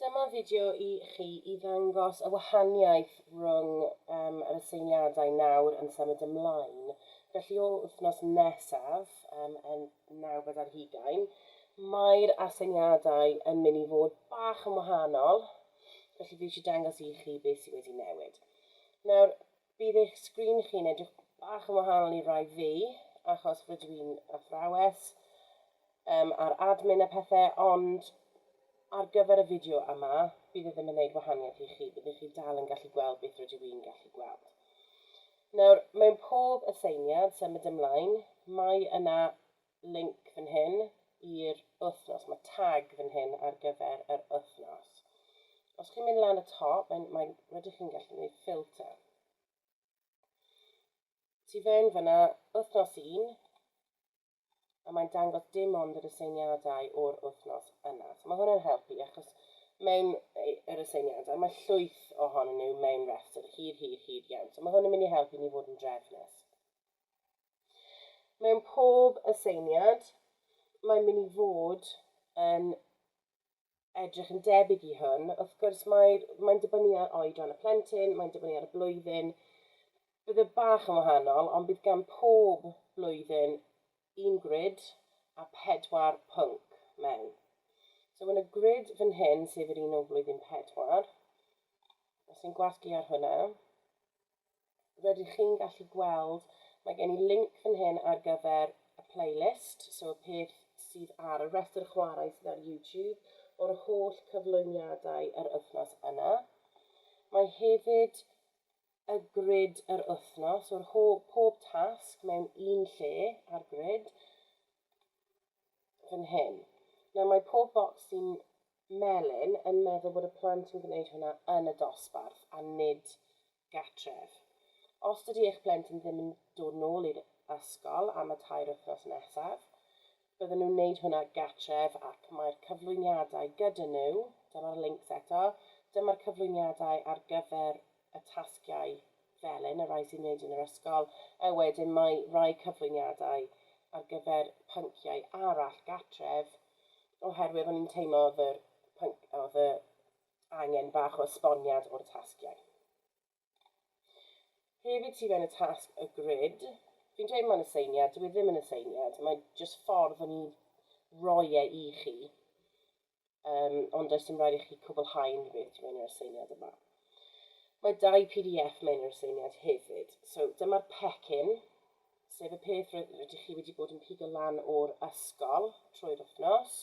Dyma fideo i chi i ddangos y wahaniaeth rhwng um, yr aseiniadau nawr yn symud ymlaen. Felly o wythnos nesaf, um, yn nawfed ar hugain, mae'r aseiniadau yn mynd i fod bach yn wahanol. Felly fi eisiau dangos i chi beth sydd wedi newid. Nawr, Bydd eich sgrin chi'n edrych bach yn wahanol i rai fi, achos rydw i'n athrawes um, a'r admin a pethau, ond ar gyfer y fideo yma, bydd e ddim yn gwneud wahaniaeth i chi, byddwch chi dal yn gallu gweld beth rydw i'n gallu gweld. Nawr, mewn pob aseiniad, symud ymlaen, mae yna link fan hyn i'r wythnos, mae tag fan hyn ar gyfer yr wythnos. Os chi'n mynd lan y top, mae'n, mae'n, rydych chi'n gallu gwneud ffilter. Ti fewn fyna wythnos un, a mae'n dangos dim ond yr aseiniadau o'r wythnos yna. So mae hwnna'n helpu achos mewn yr aseiniadau mae llwyth ohonyn nhw mewn rhestr hir, hir, hir iawn. So mae hwn yn mynd i helpu ni fod yn drefnus. Mewn pob aseiniad, mae'n mynd i fod yn edrych yn debyg i hwn. Wrth gwrs, mae'n mae dibynnu ar oedran y plentyn, mae'n dibynnu ar y blwyddyn. Bydd y e bach yn wahanol, ond bydd gan pob blwyddyn un grid a pedwar pwnc mewn. So yn y grid fan hyn, sef yr un o flwyddyn pedwar, os ni'n gwasgu ar hwnna, rydych chi'n gallu gweld, mae gen i linc fan hyn ar gyfer y playlist, so y peth sydd ar y rhestr chwarae sydd ar YouTube o'r holl cyflwyniadau yr wythnos yna. Mae hefyd y grid yr wythnos o'r holl, pob tasg mewn un lle ar grid fan hyn. Nawr mae pob bocs sy'n melyn yn meddwl bod y plant yn gwneud hwnna yn y dosbarth a nid gartref. Os dydy eich plentyn ddim yn dod nôl i'r ysgol am y tair wythnos nesaf, bydden nhw'n wneud hwnna gartref ac mae'r cyflwyniadau gyda nhw, dyma'r links eto, dyma'r cyflwyniadau ar gyfer y tasgiau felyn, y rhai sy'n wneud yn yr ysgol, a wedyn mae rhai cyflwyniadau ar gyfer pynciau arall gartref, oherwydd o'n i'n teimlo oedd y, pync, oedd y angen bach o esboniad o'r tasgiau. Hefyd ti fewn y tasg y grid, fi'n dweud mae'n aseiniad, dwi e ddim yn aseiniad, mae'n just ffordd o'n i roi e i chi, um, ond does dim rhaid i chi cwblhau unrhyw beth ti mewn i'r aseiniad yma. Mae dau PDF mewn i'r aseiniad hefyd, so dyma'r pecyn, sef y peth rydych chi wedi bod yn pigo lan o'r ysgol trwy'r wythnos.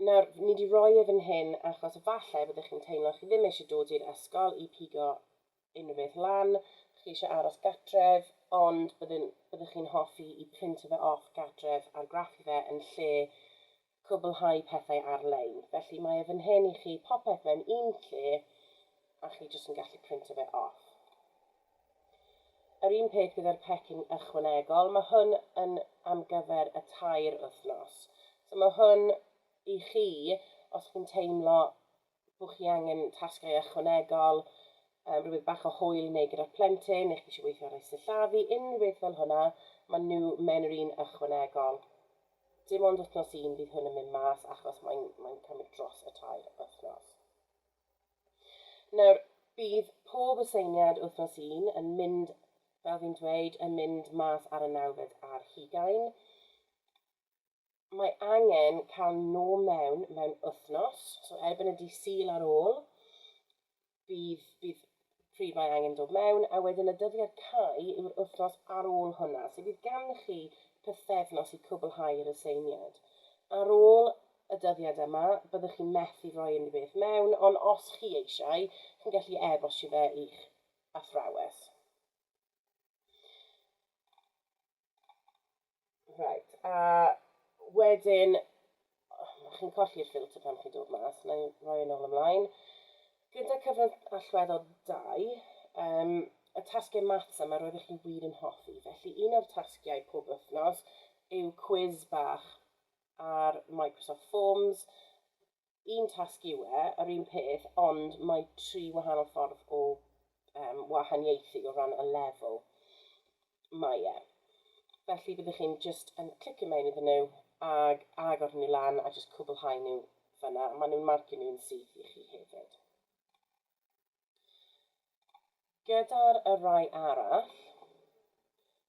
Nawr, ni 'di roi e fan hyn achos efallai byddech chi'n teimlo chi ddim eisiau dod i'r ysgol i pigo unrhyw beth lan, chi eisiau aros gatref, ond byddwn, byddwch chi'n hoffi i printio fe off gatref a'r graffu fe yn lle cwblhau pethau ar-lein. Felly mae e fan hyn i chi, popeth mewn un lle, a chi jyst yn gallu printio fe off. Yr un peth gyda'r pecyn ychwanegol, mae hwn yn am gyfer y tair wythnos. So mae hwn i chi os chi'n teimlo bod chi angen tasgau ychwanegol, um, rhywbeth bach o hwyl neu gyda'r plentyn, neu chi eisiau weithio ar ei sillafu, unrhyw beth fel hwnna, mae nhw mewn yr un ychwanegol. Dim ond wythnos un bydd hwn yn mynd mas achos mae'n mae cymryd dros y tair wythnos. Nawr, bydd pob aseiniad wythnos un yn mynd, fel fi'n dweud, yn mynd mas ar y nawfed ar hugain. Mae angen cael nhw mewn mewn wythnos, so erbyn y dydd Sul ar ôl, bydd, bydd pryd mae angen dod mewn, a wedyn y dyddiad cau yw'r wythnos ar ôl hwnna. So bydd ganddo chi pythefnos i cwblhau yr aseiniad. Ar ôl y dyddiad yma, byddwch chi'n methu rhoi unrhyw beth mewn, ond os chi eisiau, chi'n gallu e-bostio fe i'ch athrawes. Right, a wedyn, oh, chi'n colli'r ffilter pan chi'n dod mas, na i roi yn ôl ymlaen. Gyda cyfran allweddol 2, um, y tasgau maths yma roeddech chi wir yn hoffi, felly un o'r tasgiau pob wythnos yw cwiz bach ar Microsoft Forms, un tasg yw e, yr un peth, ond mae tri wahanol ffordd o um, wahaniaethu o ran y lefel mae e. Felly byddwch chi'n just yn clicio mewn iddyn nhw ag agor nhw lan a just cwblhau nhw fyna. Maen nhw'n marcio nhw'n syth i chi hefyd. Gyda'r y rai arall,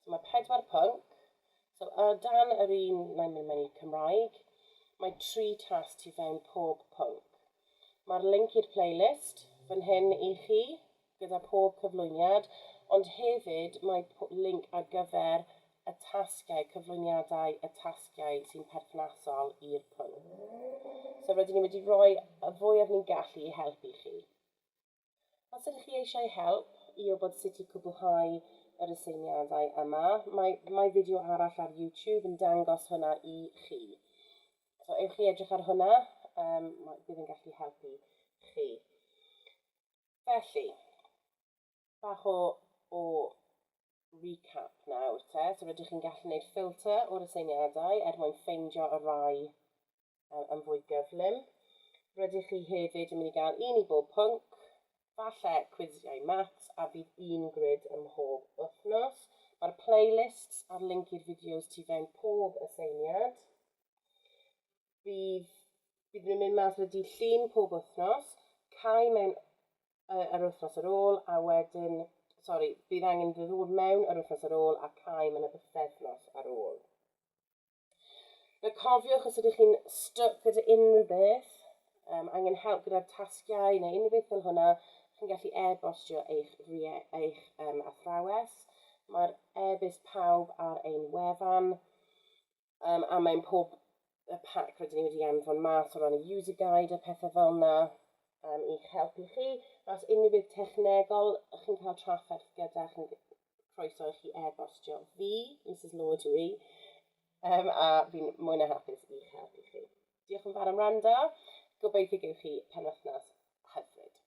so mae pedwar pwnc, so o dan yr un na'n mynd mewn i Cymraeg, mae tri tas tu fewn pob pwnc. Mae'r link i'r playlist fan hyn i chi, gyda pob cyflwyniad, ond hefyd mae link ar gyfer y tasgiau, cyflwyniadau y tasgiau sy'n perthnasol i'r pwnc. So rydyn ni wedi rhoi y fwyaf ni'n gallu i helpu chi. Os ydych chi eisiau help i wybod sut i cwblhau yr aseiniadau yma, mae, mae fideo arall ar YouTube yn dangos hwnna i chi. So ewch i edrych ar hwnna, um, bydd yn gallu helpu chi. Felly, bach o, o recap nawr te. So rydych chi'n gallu gwneud ffilter o'r aseiniadau er mwyn ffeindio y rai um, yn fwy gyflym. Rydych chi hefyd yn mynd i gael un i bob pwnc, falle cwisiau maths a bydd un grid ym mhob wythnos. Mae'r playlists a'r link i'r fideos tu fewn pob aseiniad. Bydd, bydd nhw'n mynd mas wedi llun pob wythnos, cael mewn yy yr wythnos ar ôl a wedyn, sori, bydd angen iddo ddod mewn yr wythnos ar ôl a caem yn y bythefnos ar ôl. Fe cofiwch os ydych chi'n stuck gyda unrhyw beth, um, angen help gyda'r tasgiau neu unrhyw beth fel hwnna, chi'n gallu e-bostio eich, eich um, athrawes. Mae'r e-byst pawb ar ein wefan. Um, a mae'n pob y pac rydyn ni wedi anfon mas o ran y user guide a pethau fel yna um, i'ch helpu chi. Os unrhyw beth technegol, ych chi'n cael trafferth gyda chi'n croeso i chi e-bostio fi, Mrs Lord yw i, um, a fi'n mwy na hapus i'ch helpu chi. Diolch yn fawr am rando. Gobeithio gewch chi penwythnos hyfryd.